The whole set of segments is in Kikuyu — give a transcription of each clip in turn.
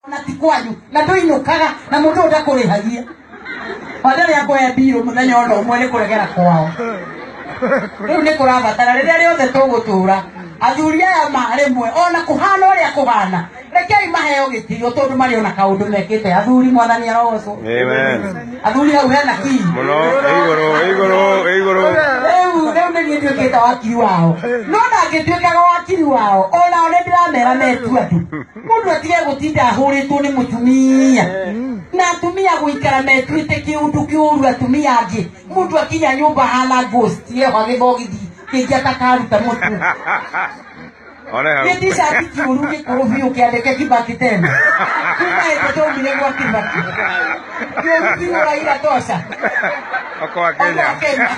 na ti kwanyu na ndũinũkaga na mũndũ ũyũ ndakũrĩhagia watarĩ akũhe mbirũ mũthenya ona ũmwe nĩ kũregera kwao rĩu nĩ kũrabatara rĩrĩa rĩothe tũgũtũra athuri aya ma rĩmwe ona kũhana ũrĩa kũhana rekei maheo gĩtio tondũ marĩ ona kaũndũ mekĩte athuri mwathani arogocwo Amen. athuri hau hena kii Mũno, igũrũ, igũrũ, igũrũ. rĩu rĩu nĩ niĩ nduĩkĩte wakiri wao no ndangĩtuĩkaga wakiri wao onao nĩ ndĩramera metu andũ mundu atige gutinda ahuritwo ni mutumia na atumia guikara metuite kiundu kiuru atumia angi mundu akinya nyumba hana ghost yeho agithogithi kingi atakaruta mutu Oreha. gĩtishati kĩũru gĩkũrũ biũ kĩandĩke kibaki tena kuma ĩte twaumire gwa kibaki kĩũru biũ raira toca Oko wa Kenya. Kenya.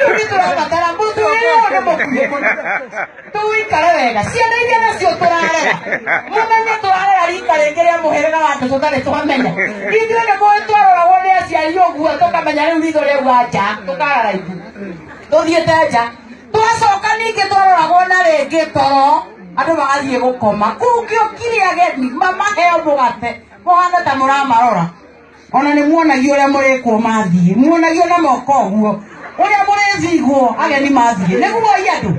Tũthiĩ tũrabatara mũndũ wĩyone mũkuhĩ mũno tũwĩikare wega ciana iria nacio tũrarera mũmenye tũrarera rika rĩngĩ rĩa mũhĩrĩga wa andũ tũtarĩ twamenya ithuĩ nĩ mũĩ twaroragwo nĩ aciari ũguo tũkamenya rĩu ritho rĩu wa nja tũkarara ithu tũthiĩte nja twacoka ningĩ twaroragwo na rĩngĩ toro andũ magathiĩ gũkoma kũu kĩo kiri ageni mamaheo mũgate mũhana ta mũramarora ona nä muonagia å rä a må rä kwo mathiä muonagia na moko å guo å rä a må rä thigwo ageni mathiä nä guo i andå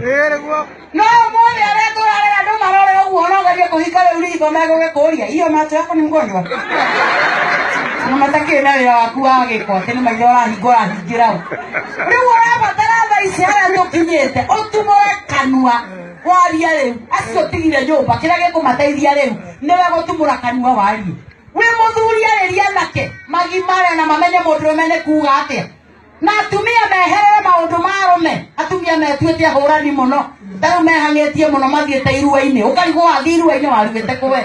no må thä arä a tå rarera andå marore å guo nogerie kå hika rä u ritho megå gä kå ria iyo macho yako nä mgonjwa na matakĩrĩ na wĩra waku wa gĩko atĩ nĩ maitho ũrahingwo ũrahingĩra ũ rĩu ũrabatara thaa ici harĩa tũkinyĩte ũtumũre kanua waria rĩu acio tigire nyũmba kĩrĩa gĩkũmateithia rĩu nĩwe gũtumũra kanua warie wĩ mũthuri arĩria anake magimare na mamenye mũndũrũme nĩ kuuga atĩa na atumia meherere maũndũ ma arũme atumia metuĩte ahũrani mũno tarĩu mehang'ĩtie mũno mathiĩte irua-inĩ ũkarigwo wathiĩ irua-inĩ waruĩte kũwe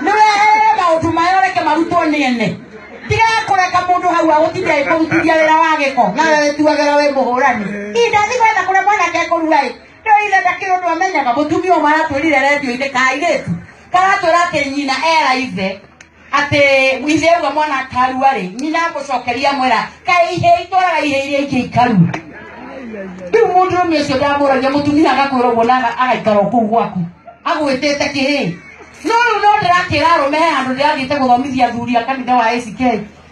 nĩ weherere maũndũ maya ũreke marutwo nĩ ene tiga kũreka mũndũ hau agũtinda ĩkũrutithia wĩra wa gĩko na we wĩtuagĩra wĩ mũhũrani indathi gwetha kũrĩa mwanake ekũruga-ĩ nĩũitheta kĩũndũ amenyaga mũtumia ũmwe aratwĩrire redio-inĩ kairĩtu karatwĩra atĩ nyina era ithe atĩ ithe ũguo mwana akarua rĩ nyina agũcokeria mwera kaĩ ihĩ itwaraga ihĩ iria ingĩ ikarua rĩu mũndũ ũmwe ũcio ndamũragia mũtumia agakwĩra ũguo na aga- agaikara o kũu gwaku agwĩtĩte kĩhĩ no rĩu no ndĩrakĩra arũme he handũ ndĩrathiĩte gũthomithia athuri a kanitha wa ACK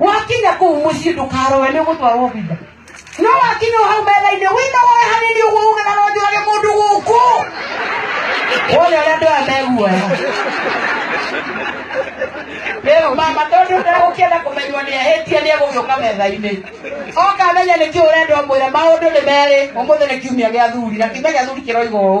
wakinya kuu muciĩ ndũkaroe nĩ ũgũtwarwo obitha no wakinya o hau metha-inĩ wĩna woe hanini ũguo uge na nonjũrage mũndũ gũkũ wone ũrĩa andũ aya meguoya rĩu mama tondũ ndagũkĩenda kũmenywo nĩ ahĩtie nĩ egũgĩũka metha-inĩ oka amenya nĩkĩ ũrenda ũmwĩre maũndũ nĩ merĩ ũmũthĩ nĩ kiumia gĩa thuri na kiumia gĩa thuri kĩroiga ũũ